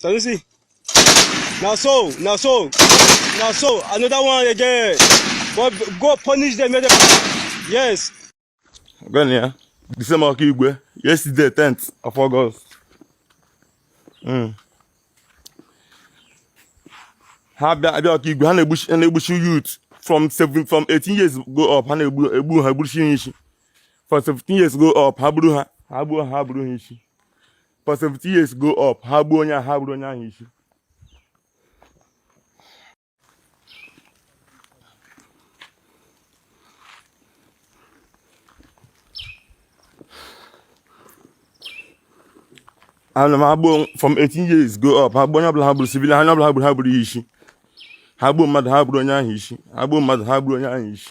Can you see? Na so, na so, na so, another one again. God go punish them. Yes. Go near. The same Okigwe. Yesterday, 10th of August. Mm. ha bịa abịa Okigwe ha na-egbuchi youth from from 18 years go up ha na-egbu ha egbuchi ha isi from 17 years go up ha buru ha ha gbuo ha gburu ha isi from 17 years go up ha gbuo onye ha gburu onye ahụ isi ha na-egbu from 18 years go up ha gbuo onye ọbụla ha gburu civilian ha onye ọbụla ha gburu ha gburu ya isi ha gbuo mmadụ ha gburu onye ahụ isi ha gbuo mmadụ ha gburu onye ahụ isi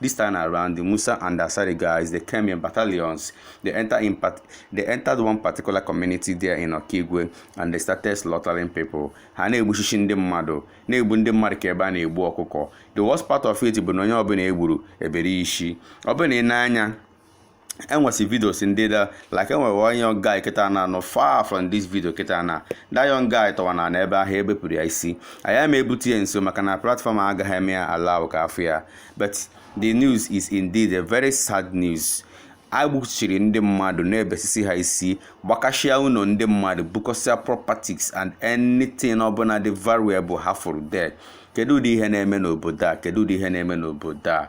This time around, the Musa and the Asari guys, they came in battalions. They entered in part, they entered one particular community there in Okigwe and they started slaughtering people. Ha na-egbuchichi ndị mmadụ, na-egbu ndị mmadụ ka ebe a na-egbu ọkụkọ. The worst part of it bụ na onye ọbụla e gburu e bere isi. Ọ bụrụ na i nee anya enwesi videos ndị da like enwere one young guy kịta na nọ far from this video kịta na that young guy tọwa na ebe ahụ ebepụrụ ya isi anyị ama ebute ya nso maka na platform a agaghị eme ya allow ka a fụ ya but the news is indeed a very sad news e gbuchiri ndị mmadụ na-ebesisi ha isi gbakashia ụlọ ndị mmadụ bukọsịa properties and anything ọbụla dị valuable ha fụrụ there kedu ụdị ihe na-eme n'obodo a kedu ụdị ihe na-eme n'obodo a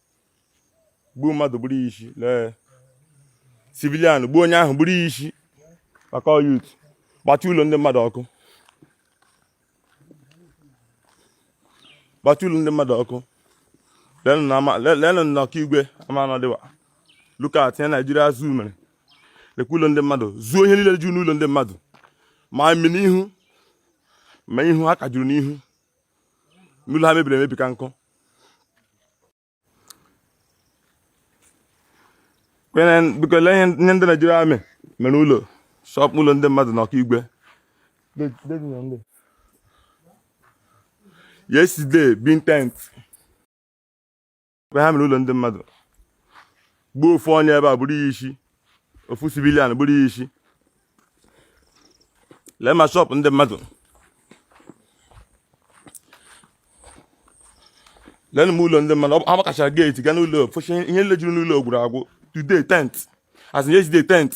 gbuo mmadụ buru ya isi lee civilian gbuo onye ahụ buru ya isi maka youth gbacha ụlọ ndị mmadụ ọkụ gbacha ụlọ ndị mmadụ ọkụ leenụ n'Okigwe amanọdịwa look at ihe Naijiria zoo mere lekwa ụlọ ndị mmadụ zuo ihe niile ju n'ụlọ ndị mmadụ ma mmiri ihu ma ihu ha ka juru n'ihu ma ụlọ ha mebiri emebi ka nkụ biko lee ihe ndị Naijiria army mere ụlọ shop ụlọ ndị mmadụ n'Okigwe yesterday being 10th ihe ha mere ụlọ ndị mmadụ gbuo ofu onye ebe a buru ya isi ofu civilian buru ya isi lee ma shop ndị mmadụ leenụ m ụlọ ndị mmadụ ha makachara gate gaa n'ụlọ ofesi ihe nile juru n'ụlọ gwụrụ agwụ today 10th as in yesterday 10th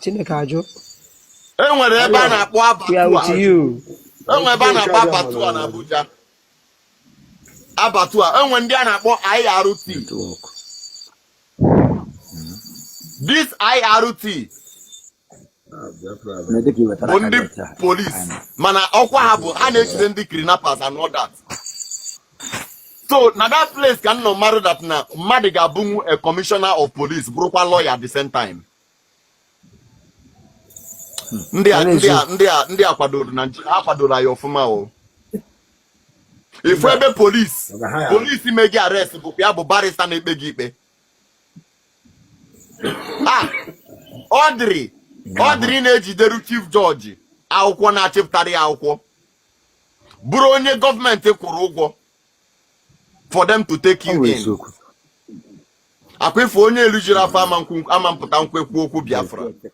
Chineke ajụ e nwere ebe a na-akpọ abattoir e nwere ebe a na-akpọ abattoir n'Abuja abattoir e nwere ndị a na-akpọ IRT this IRT bụ ndị police mana ọkwa ha bụ ha na-ejide ndị kidnappers and all that so na that place ka m nọ maru that na mmadụ ga-abụnwu a commissioner of police bụrụkwa lawyer at the same time hmm. ndị a ndị a ndị a ndị a kwadoro na ha kwadoro anyị ọfụma o ifu ebe police police mee gị arrest bụ ya bụ barrister na-ekpe gị ikpe orderly orderly na-ejideru chief judge akwụkwọ na-achịpụtara ya akwụkwọ bụrụ onye gọọmenti kwụrụ ụgwọ for them to take you in akwa ife onye elu jiri afọ ama m pụta nkwekwu okwu biafra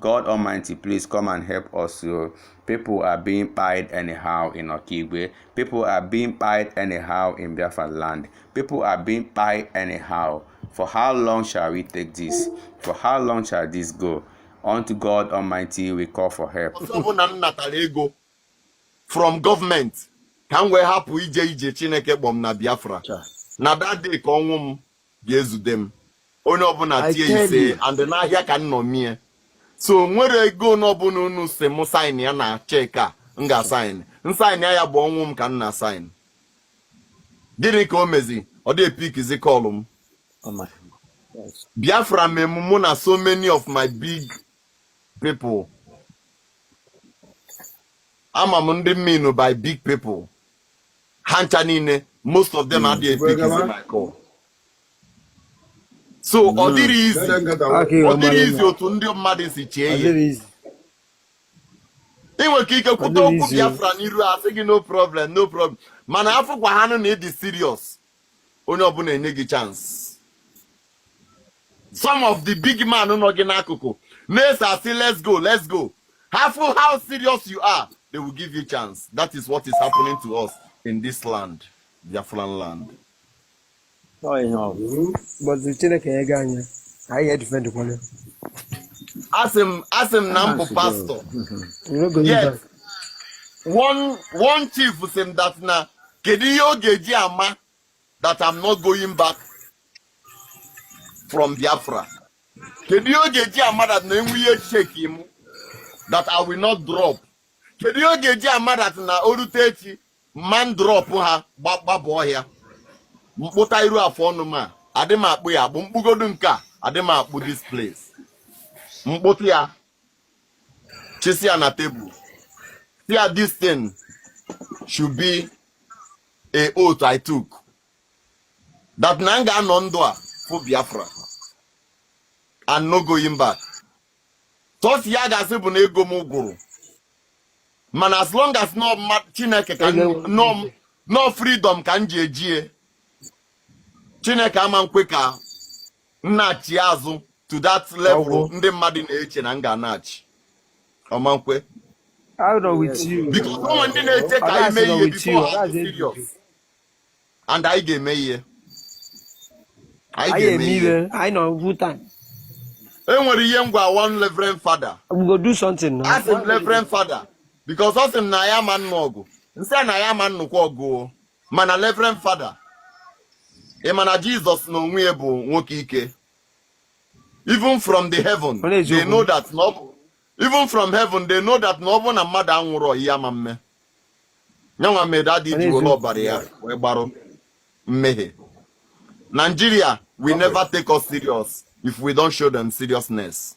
God Almighty, please come and help us. So people are being pied anyhow in Okigwe. People are being pied anyhow in Biafra land. People are being pied anyhow. For how long shall we take this? For how long shall this go? Unto God Almighty we call for help. from government ka m wee hapụ ije ije Chineke kpọm na Biafra na that day ka ọnwụ m ga-ezute m onye ọbụla tie ise and n'ahịa ka m nọ mie so o nwere ego onye ọbụla unu si mụ sign ya na cheque a m ga-asign m sign ya bụ ọnwụ m ka m na-asign gịnị ka o mezi ọ dị epickzi call m biafra mem mụ na so many of my big people ama m ndị m mean by big people ha ncha niile most of them adị epickzi my call so ọ dịrị easy ọ dịrị easy otu ndị mmadụ si chee ya ị nwere ike ike kwute okwu Biafra n'iru a sị gị no problem no problem mana afụkwa ha nụ na ị dị serious onye ọbụla enye gị chance some of the big man nọ gị n'akụkụ na-ese asị let's go let's go ha fụ how serious you are they will give you chance that is what is happening to us in this land Biafran land asị m asị m na m bụ pastor yes one one chief sị m that na kedu ihe ọ ga-eji ama that I'm not going back from Biafra kedu ihe ọ ga-eji ama that na e nwee ihe shake m that I will not drop kedu ihe ọ ga-eji ama that na o rute echi ma m drop ha gba- gbaba ọhịa m kpụta iru afọ ọnụ m a adị m akpụ ya akpụ m kpụgodu nke a adị m akpụ this place m kpụta ya chisi ya na tebụl sị ya this thing should be a oath I took that na m ga-anọ ndụ a for Biafra and no going back tọsi ya ga-asị bụ na ego m gwụrụ mana as long as na ọ mma- chineke ka m- na ọ freedom ka m ji eje chineke ama nkwe ka m nachi azụ to that level ndị mmadụ na-eche na m ga-anachi ọ ma nkwe because o nwe ndị na-eche ka anyị mee ihe before ha dị serious and anyị ga-eme ihe anyị ga-eme ihe anyị nọ full time e nwere ihe m gwa one reverend father we go do something now asị m reverend father because ọ sị m na ya ma nnụ ọgụ m sị ya na ya ma nnụkwa ọgụ mana Reverend Father ị ma na Jizọs n'onwe ya bụ nwoke ike even from the heaven they know that na ọ bụ even from heaven they know that na ọ bụrụ na mmadụ anwụrọ ihe a ma mme nya nwa mmedo adị ji were ọbara ya wee gbarụ mmehie Nigeria will never take us serious if we don't show them seriousness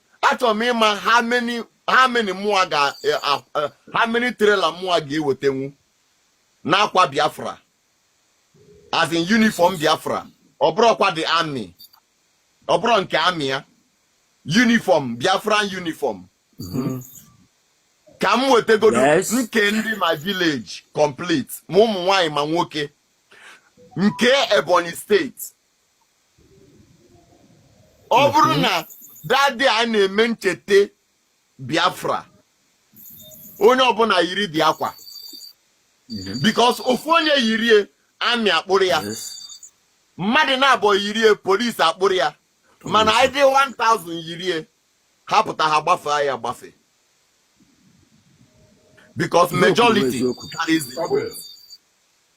achọrọ m ịma how many how many mụwa ga eh, ah, eh, how many trailer mụwa ga-ewetenwu n'akwa Biafra as in uniform Biafra ọ bụrọkwa the army ọ bụrọ nke army ya uniform Biafran uniform mm-hmm. ka m wetagodo nke ndị my village complete ma ụmụ nwanyị ma nwoke nke Ebonyi steeti ọ bụrụ na that day a na-eme nchete Biafra onye ọbụla yiri the akwa mhm. because ofu onye yirie army akpụrụ ya mmadụ naabọ yirie police akpụrụ ya mana anyị dị 1000 yirie ha pụta ha gbafee ya agbafe because majority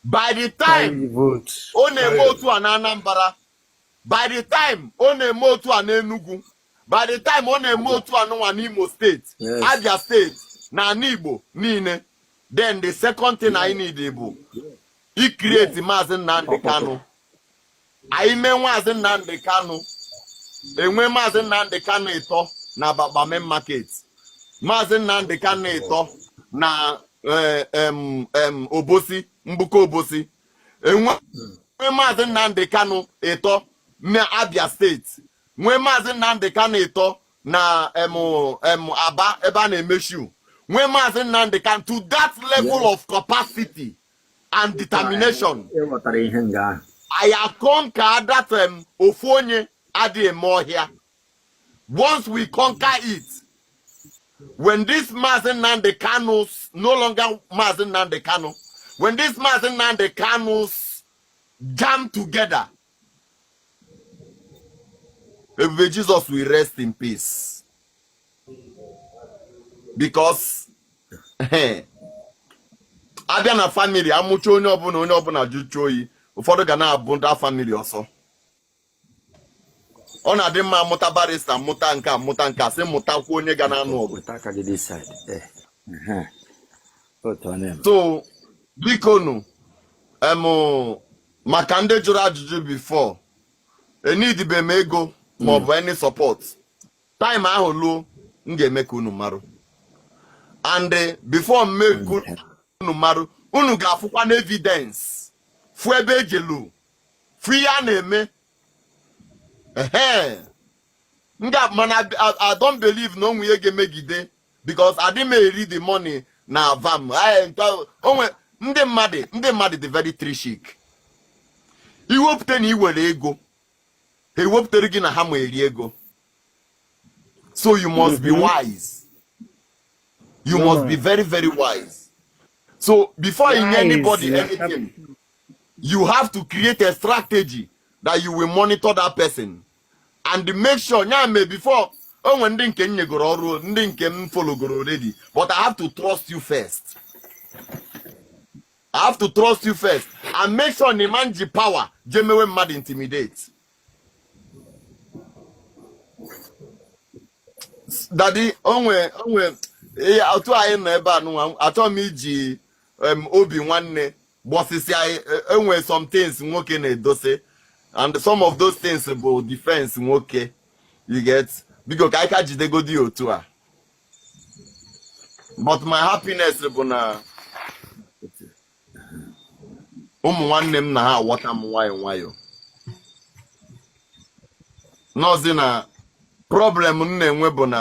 by the time ọ na-eme otu a na Anambra by the time ọ na-eme otu a n'Enugu by the time ọ na-eme otu a nụnwa n'Imo steeti Abia steeti na ana Igbo niile then the second thing I need bụ i create Maazị Nnamdi Kanu I mean maazị Nnamdị Kanụ e nwee maazị Nnamdị Kanụ ịtọ na Abakpa main market maazị Nnamdị Kanụ ịtọ na Obosi Mgbuka Obosi e nwee maazị Nnamdị Kanụ ịtọ na Abia steeti nwee maazị Nnamdị Kanụ ịtọ na Aba ebe a na-eme shoe nwee maazị Nnamdị Kanụ to that level of capacity and determination anyị conquer that um, ofu onye adịghị eme ọhịa once we conquer it when this Mazi Nnamdi Kanus no longer Mazi Nnamdi Kanu when this Mazi Nnamdi Kanus jam together Ebube Jesus will rest in peace. because eh, a bịa na family a mụcha onye ọbụla onye ọbụla jụcha oyi ụfọdụ ga na-abụ ndị family ọsọ ọ na-adị mma a mụta barrister mụta nke a mụta nke a sị mụtakwu onye ga na-anụ ọgụ eh. so bikonu em maka ndị jụrụ ajụjụ before e nyedibe m ego maọbụ any support time ahụ luo m ga-eme ka unu marụ and eh, before m mee ka unu marụ unu ga-afụkwa na evidence fụ ebe e jelu fụ ihe a na-eme ehe m ga mana I- I don't believe na o nwe ihe ga-emegide because adị m eri the money na ava m Aye, nta- o nwe ndị mmadụ ndị mmadụ dị very trishik i wepụta na i nwere ego ha ewepụtara gị na ha ma eri ego so you must be mm-hmm. wise you must be very very wise so before i nye anybody anything you have to create a strategy that you will monitor that person and make sure ya mee before o nwere ndị nke m nyegoro ọrụ ndị nke m fologoro already but I have to trust you first I have to trust you first and make sure na ị man ji power je mewe mmadụ intimidate daddy o nwe o nwe otu anyị nọ ebe a nụnwa achọghị m iji obi nwanne gbọsisi anyị enwe e some things nwoke na-edose and some of those things bụ defense nwoke you get biko ka anyị ka jidegodi otu a but my happiness bụ na ụmụ nwanne m na ha aghọta m nwayọọ nwayọọ n'ọzi na problem m na-enwe bụ na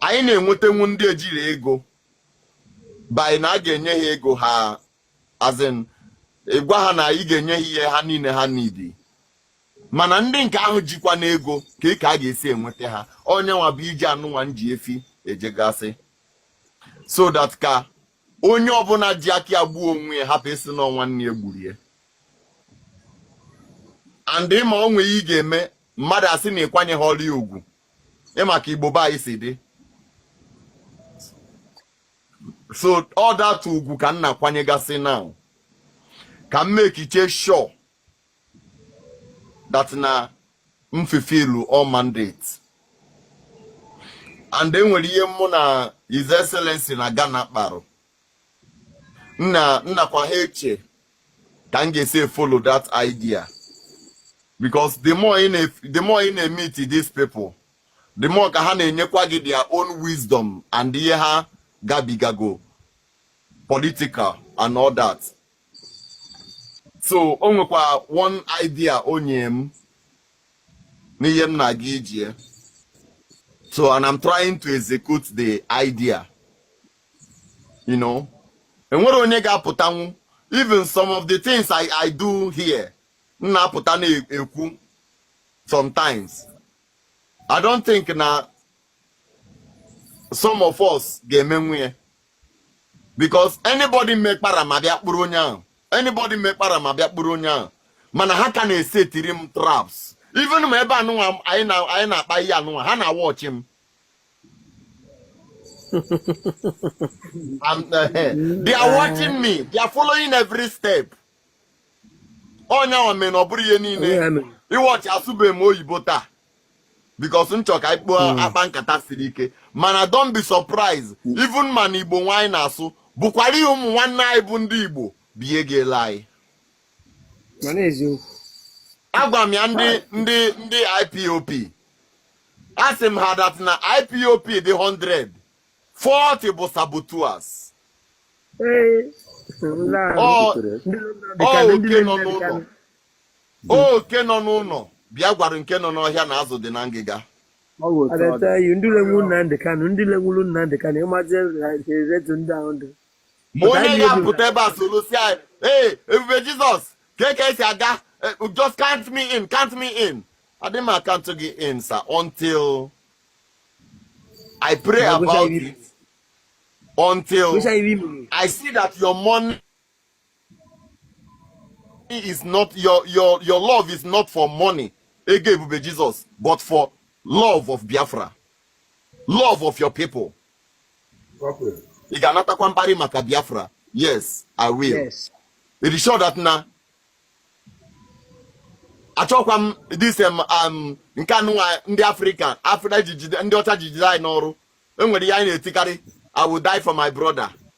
anyị na-enwetenwu ndị e jiri ego buy na a ga-enye ha ego ha as in ị gwa ha na ị ga-enye ha ihe ha niile ha need Mana ndị nke ahụ jikwa n'ego ka ka a ga-esi enweta ha ọ yanwa bụ ije anụnwa m ji efi ejegasị so that ka onye ọbụla ji aka ya gbuo onwe ya hapụ ịsị na nwanne ya gburu ya and ị ma o nwere ihe ị ga-eme mmadụ asị na ị kwanyegoro ya ugwu ịma ka igbo be anyị si dị so all that ugwu ka m na-akwanyegasị now ka m mekie sure that na m fulfill all mandate and enwere ihe mụ na His Excellency na Ghana kparụ m nakwa eche ka m ga-esi follow that idea because the more ị na-emeet these people the more ka ha na-enyekwa gị their own wisdom and ihe ha gabigago political and all that so o nwekwa one idea o nye m n'ihe m na-aga ije so and I'm trying to execute the idea you know enwere onye ga-apụtanwu even some of the things I do here m na-apụta na-ekwu sometimes I don't think na some of us ga-emenwu ya because anybody mee kparam a bịa kpụrụ onye ahụ anybody mee kparam a bịa kpụrụ onye ahụ mana ha ka na-esetiri m traps even ma ebe anụnwa anyị na-akpa ihe anụnwa ha na-awatch m they are watching me they are following every step ọ yanwa mee na ọ bụrụ ihe niile i watch asụbeghị m oyibo taa because m chọrọ ka anyị kpọọ akpa nkata siri ike mana don't be surprised even ma n'igbo nwa anyị na-asụ bụkwara ihe ụmụ nwanne anyị bụ ndị igbo bụ ihe ga-ele anyị agwa m ya ndị IPOB a sị m ha that na IPOB dị 100 40 bụ saboteurs ọ oke nọ n'ụlọ oke nọ n'ụlọ bịa gwara nke nọ n'ọhịa na azụ dị na ngịga ndị lenwu Nnamdị Kanụ ndị lenwuru Nnamdị Kanụ ịmazi etu ndị ahụ dị ma onye ga-apụta ebe a soro si anyị ee ebube jizọs kee ka esi aga just count me in count me in adị m acount gị in sir until i pray about it until i see that your money is not your your your love is not for money ego ebube Jizọs but for love of Biafra love of your people ị ga-anatakwa mkparị maka Biafra yes I will yes. it is sure that na achọkwa m this um, um, nke anụnwa ndị African Africa ndị ọcha ji jide anyị n'oru enwere ihe anyị na-etikarị I will die for my brother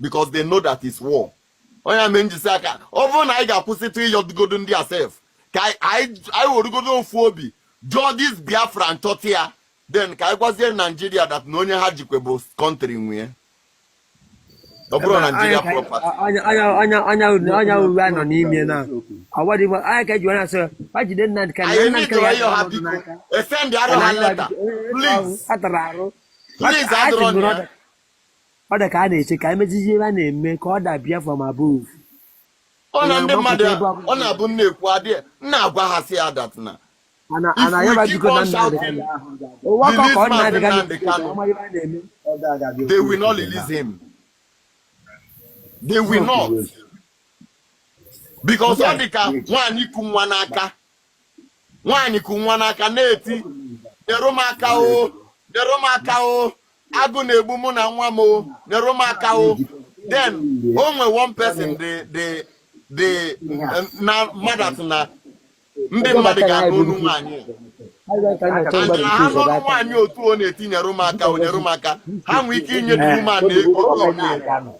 because they know that it's war onye mee njisi aka ọ bụrụ na anyị ga-akwụsịtụ ịyọdụgodo ndị a sef ka anyị werugodo ofu obi chọọ this Biafra nchọta ya then ka anyị gwazie Nigeria that na onye ha jikwe bụ country nwe ọ bụrọ Nigeria property anya uwe anọ n'ime na awadịgbo anya ka ejiwe na-asọ ha jide Nnamdi Kanu nna nke ya ha biko e sendara ha letter please atara arụ please adọrọ ọ dị ka a na-eche ka emezizi ebe a na-eme ka ọ dabịa from above ọ na ndị mmadụ ọ na-abụ m na-ekwu adị m na-agwa ha sị ya that na if we keep on shouting release Mazi Nnamdi Kanu they will not release him they will not because ọ dị ka nwaanyị ku nwa n'aka nwaanyị ku nwa n'aka na-eti nyere m aka o nyere m aka o agụụ na-egbu mụ na nwa m o nyere m aka o then o nwe one person dị dị dị na mmadụ na ndị mmadụ ga-anụ olu nwaanyị na ha nụrụ nwaanyị otu ọ na-eti nyere m aka o nyere m aka ha nwee ike inye ụmụaka ego